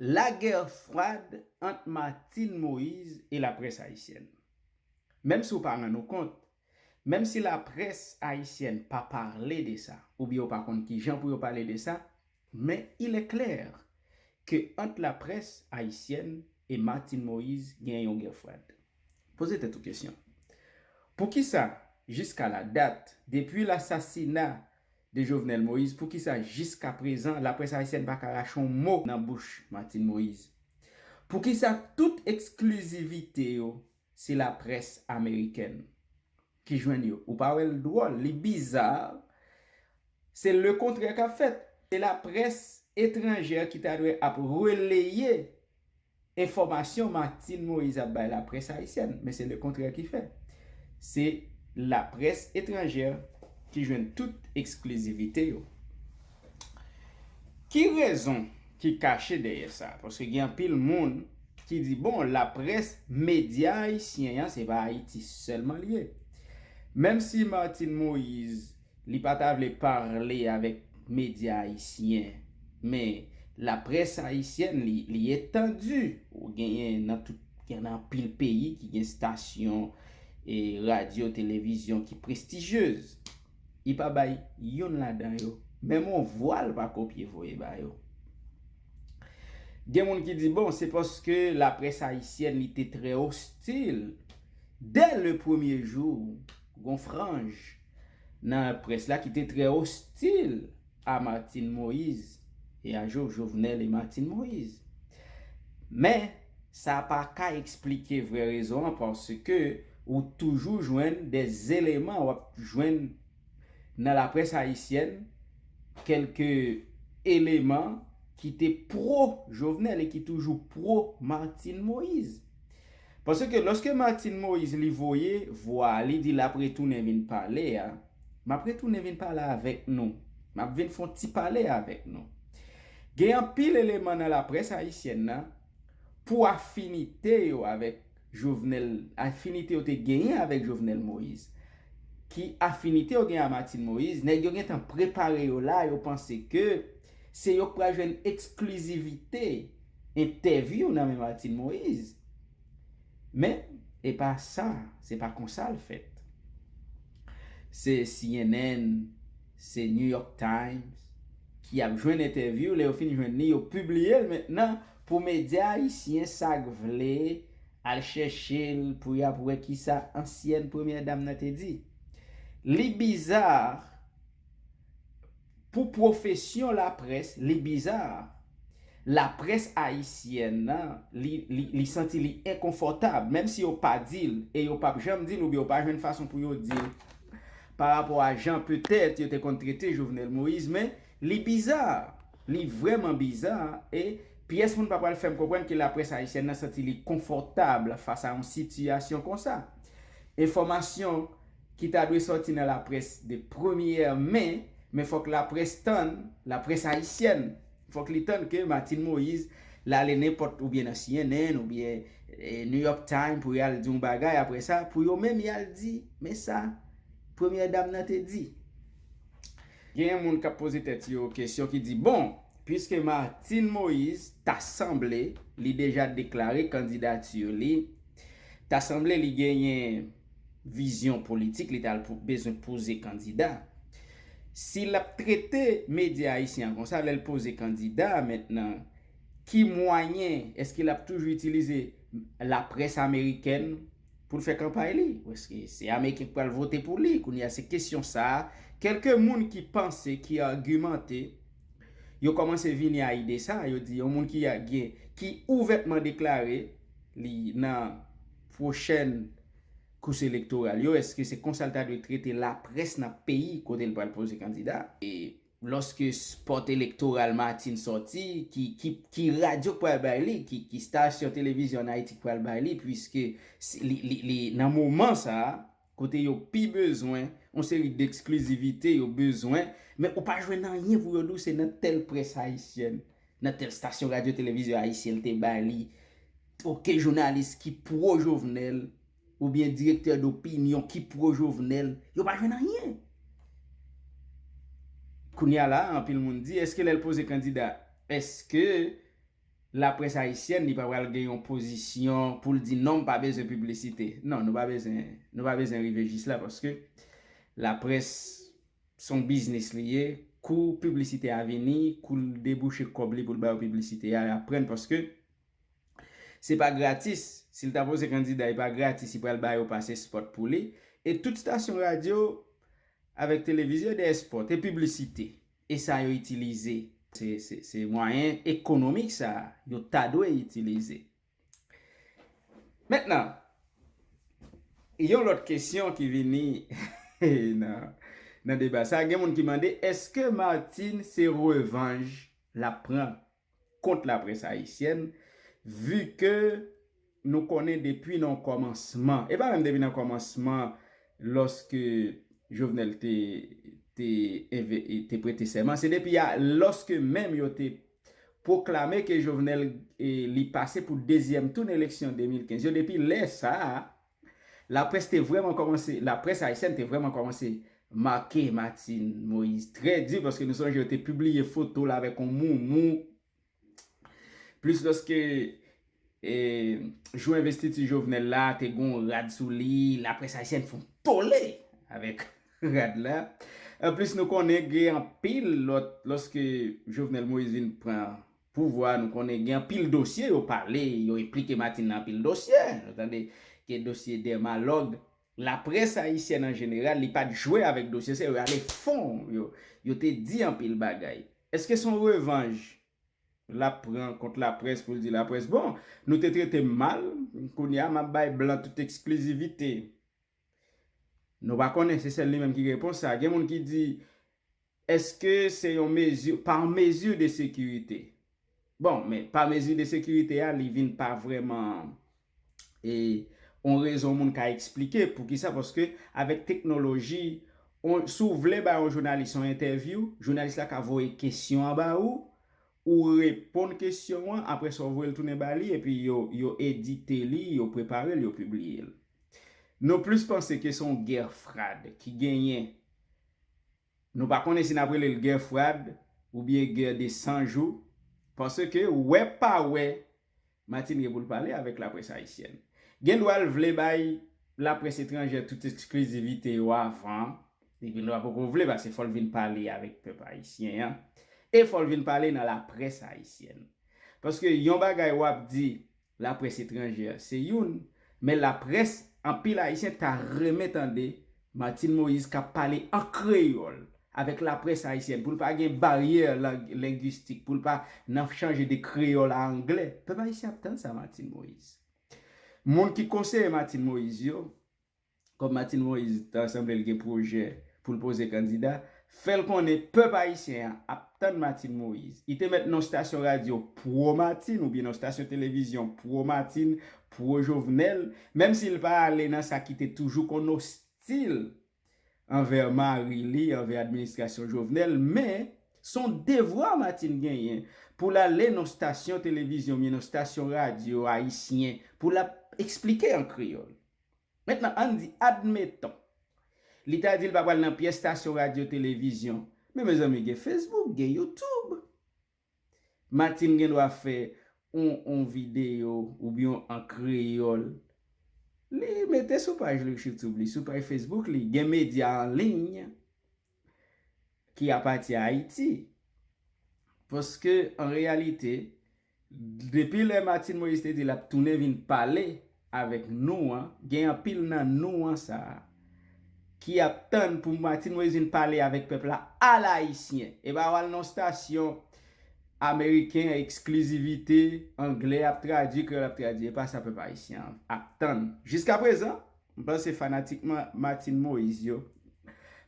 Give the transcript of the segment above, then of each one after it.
La guerre froide ant Martine Moise et la presse haïtienne. Menm si w pa rann ou kont, menm si la presse haïtienne pa parle de sa, ou byen yo pa konn ki jan pou yo pale de sa, men il est clair que ant la presse haïtienne et Martine Moise gen yon guerre froide. Poze tèt ou kesyon. Pou kisa jiska la dat, depi l'assassinat, de Jovenel Moïse poukisa jiskaprezan laprès ayisyèn pa ka rache yon mo nan bouch Martine Moïse? Poukisa tout eksklizivite yo se laprès amerikèn ki jwenn yo? Ou pa wè l dwòl, li bizar, se lekontrè k ap fèt. Se laprès etranjè ki ta dwe ap releye. Enfòmasyon Martine Moïse ap bay laprès ayisyèn, men se lekontrè ki fèt. Se laprès etranjè ki jwenn tout eksklizivite yo. Ki rezon ki kache dèyè sa? Paske gen anpil moun ki di, bon, laprès, medya ayisyen an, se pa Ayiti sèlman li ye. Menm si Martine Moïse Li pa ta vle parle avèk media ayisyen men la presse ayisyèn li li etandu ou genyen nan tout gen nan anpil peyi ki gen stasyon e radio televizyon ki prestigyez li pa bay youn ladan yo menm on vwa l pa kopye voye ba yo gen moun ki di bon se paske la presse ayisyèn li te trè ostil dè le premye jou gon franj. nan près la ki te trè ostil a Martine Moise e a Jovenel et Martine Moise. Men, sa pa ka eksplike vrè rezon an paske ou toujou jwenn de eleman w ap jwenn nan laprès ayisyèn, kèlke eleman ki te pro Jovenel e ki toujou pro Martine Moise. Paske lòske Martine Moïse li voye vwa a li di l ap retounen vin pale a, m ap retounen vin pale avèk nou, m ap vin fè yon ti pale avèk nou. Gen anpil eleman nan laprès ayisyèn nan, pou afinite yo avèk Jovenel, afinite yo te genyen avèk Jovenel Moïse, ki afinite yo genyen a Martine Moïse, nèg yo gentan prepare yo la, yo panse ke Se yo k pral jwenn eksklizivite entèvyou nan men Martine Moise. Men, e pa sa, se pa konsa l fèt. Se cnn, se New York Times ki ap jwenn entèvyou, lè yo fin jwenn li, yo pibliye l mentnan pou medya ayisyen sa k vle al chèche l pou y ap wè ki sa ansyèn premyè dam nan te di. Li bizar. Pou pwofesyon laprès, li biza. Laprès ayisyèn nan, li, li, li santi li enkonfòtab, menm si yo pa di l, e yo p ap janm di l oubyen yo pa jwenn fason pou yo di l parapò a jan petèt yo te konn trete Jovenel Moïse, men li biza, li vrèman biza, e pyès moun pa pral fè m konprann ke laprès ayisyèn nan santi li konfòtab fas a yon sitiyasyon konsa. Enfòmasyon. ki ta dwe sòti nan laprès de premyè men, men fòk laprès tann, laprès ayisyèn, fòk li tann ke Martine Moïse lale nenpòt oubyen nan cnn oubyen New York Times pou y al di yon bagay aprè sa pou yo menm y al di men sa premyè dam nan te di. Genyen moun k ap poze tèt yo kesyon ki di bon, puiske Martine Moïse ta sanble li deja deklare kandidati li, ta sanble li genyen. vizyon politik li ta al bezwen poze kandida. Si l ap trete medya ayisyen an konsa lè l poze kandida mentnan ki mwayen èske l ap toujou itilize laprès amerikèn pou l fè kanpay li èske se ameriken ki pral vote pou li kounye a se kesyon sa kèlke moun ki panse ki agimante yo kòmanse vini a ide sa yo di yon moun ki ouvètman deklare li nan pwochèn kous elektoral yo, èske se konsa l ta dwe trete laprès nan peyi kote l pral poze kandida? E lòske spòt elektoral Martine sòti, ki radyo k pral bay li, ki stasyon televizyon an Ayiti k pral bay li, puiske li nan moman sa a, kote yo pi bezwen yon seri d'exclusivite yo bezwen men ou pa jwenn anyen pou yo di w se nan tèl près ayisyèn, nan tèl stasyon radyo televizyon ayisyen l te bay li ok jounalis ki pro Jovenel oubyen direktè dopinyon ki pro Jovenel yo pa jwenn anyen. Kounye a la a anpil moun di èske lè l poze kandida èske la près ayisyèn li pa pral gen yon pozisyon poul di non mpa bezwen piblisite non nou pa bezwen nou pa bezwen rive jis la paske la près son biznis li ye kou piblisite a vini koul debouche kòb li poul bayo piblisite a yap prann paske se pa gratis sil ta poze kandida epa gratis li pral bayo pase spòt pou li e tout stasyon radyo avèk televizyon dèyè spòt e piblisite. E sa yo itilize. Se mwayen ekonomik sa a yo ta dwe itilize. Mentnan, yon lòt kesyon ki vini nan deba sa a, gen moun ki mande, èske Martine se revanj l ap pran kont la près ayisyèn vu ke nou konnen depi nan kòmansman e pa menm depi nan kòmansman lòske Jovenel te te prete sèman se depi a lòske menm yo te pwoklame ke Jovenel li pase pou dezyèm tou nan eleksyon 2015 yo depi lè sa a. Laprès te vrèman kòmanse, laprès ayisyèn te vrèman kòmanse make Martine Moïse trè di paske nou sonje yo te pibliye foto l avèk yon moumou plis lòske e jou envestiti Jovenel la te gen yon rad sou li, laprès ayisyèn fè yon tole avèk rad la. Anplis nou konnen gen anpil lòt lòske Jovenel Moïse vin pran Pouvwa nou konnen gen anpil dosye yo pale yo enplike Martine nan anpil dosye nou tande gen dosye Derma log laprès ayisyèn an jeneral li pat jwe avèk dosye sa yo yo ale fon yo yo te di anpil bagay eske son revanj lap pran kont laprès poul di laprès bon nou te tretem mal kounya map bay blan tout eksklizivite. Nou pa konnen, se sèl li menm ki gen repons sa. Gen moun ki di, Eske se yon mezi, par mesure de sécurité? Bon, men, par mesure de sécurité a, li vin pa vrèman e yon rezon moun ka eksplike. Poukisa? Paske avèk teknoloji, yon, si w vle bay yon jounalis yon entèvyou, jounalis la ka voye kesyon an ba ou, ou reponn kesyon an, apre sa ou voye l tounen ba li, epi yo, yo edite li, yo prepare l, yo pibliye l. Nou plis panse ke se yon guerre frade ki genyen. Nou pa konnen si n ap rele l guerre frade oubyen guerre de 100 jou, paske wè pa wè Martine gen pou l pale avèk laprès ayisyèn. Gen dwa l vle bay laprès etranjè tout eksklizivite yo avan, li gen dwa poko vle paske fò l vin pale avèk pèp ayisyen an e fò l vin pale nan laprès ayisyèn. Paske yon bagay w ap di Laprès etranjè se youn, men laprès anpil Ayisyen ta renmen tande Martine Moïse kap pale an kreyòl avèk laprès ayisyèn pou l pa gen baryè lang lengwistik, pou l pa nan chanje de kreyòl a angle. Pèp ayisyen ap tann sa Martine Moïse. Moun ki konseye Martine Moïse yo, Kòm Martine Moise ta sanble l gen pwojè pou l poze kandida, fè l konnen pèp ayisyen an ap tann Martine Moise. I te mèt non stasyon radyo pwo Martine oubyen non stasyon televizyon pwo Martine, pwo Jovenel, menm si l pa ale nan sa ki te toujou konn ostil anvè mari li, anvè administrasyon Jovenel, men, s on devwa Martine genyen pou l ale non stasyon televizyon oubyen non stasyon radyo ayisyen pou l ap esplike an kreyòl. Mentnan ann di, admeton, li ta di l pa pral nan pyès stasyon radyo televizyon, men mezanmi gen Facebook, gen YouTube. Martine gen dwa fè on on videyo oubyen an kreyòl, li mete sou paj li, youtube li, sou paj Facebook li, gen medya an liy. ki apati a Ayiti. Paske an reyalite, depi lè Martine Moïse te di l ap tounen vin pale avèk nou an, gen anpil nan nou an sa a, ki ap tann pou Martine Moïse vin pale avèk pèp la a la ayisyen. E pa w al nan yon stasyon ameriken, eksklizivite, angle ap tradui, kreyòl ap tradui. E pa sa pèp ayisyen an ap tann. Jiskaprezan, M panse fanatik Martine Moïse yo,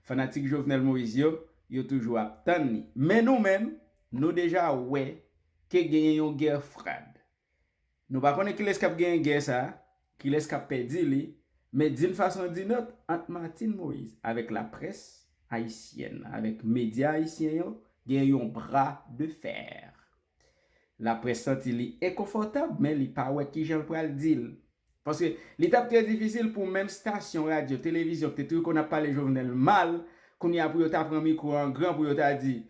fanatik Jovenel Moïse yo, yo toujou ap tann li. Men nou menm, nou deja wè ke genyen yon gè frad. Nou pa konnen kilès k ap genyen gè sa, kilès k ap pèdi li, men din fason din ot, ant Martine Moïse avèk laprès ayisyèn, avèk medya ayisyen yo, genyen yon bra de fer. Laprès santi li enkonfòtab men li pa wè kijan l pral di l. Paske li t ap trè difisil pou menm stasyon radyo, televizyon ki te toujou konn ap pale Jovenel mal, kounye a pou yo ta pran mikwo an gran pou yo ta di,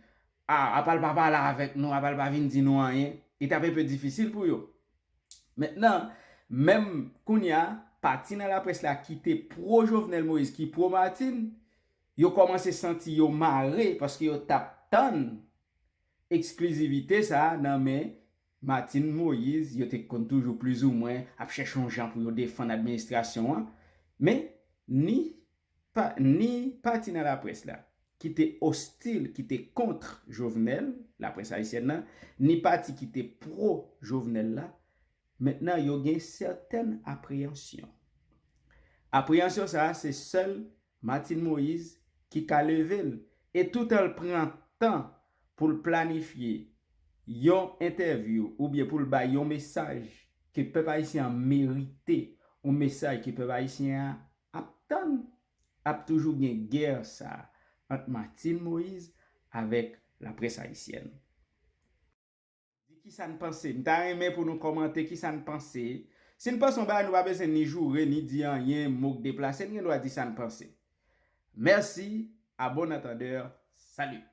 A, apa l pa pale avèk nou, apa l pa vin di nou anyen. Li t ap enpe difisil pou yo. Mentnan, menm kounye a, pati nan laprès la ki te pwo Jovenel Moïse, ki pwo Martine, yo kòmanse santi yo mare paske yo t ap tann Eksklizivite sa a nan men Martine Moïse, yo te konn toujou plizoumwen ap chèche yon jan pou yo defann administrasyon an, men ni pa ni pati nan laprès la ki te ostil, ki te kontr Jovenel, laprès ayisyèn nan, ni pati ki te pro Jovenel la, mentnan yo gen sètèn apreyansyon. Apreyansyon sa a se sèl Martine Moïse ki ka leve l e toutan l pran tan pou l planifye yon entèvyou oubyen pou l bay yon mesaj ke pèp ayisyen an merite, yon mesaj ke pèp ayisyen an ap tann, ap toujou gen gè sa ant Martine Moïse avèk laprès ayisyèn. Di kisa n panse. M ta renmen pou nou kòmante kisa n panse. Si n panse yon bagay nou pa bezwen ni joure ni di anyen mo k deplase n gen dwa di sa n panse. Mèsi, à bon entendeur, salut!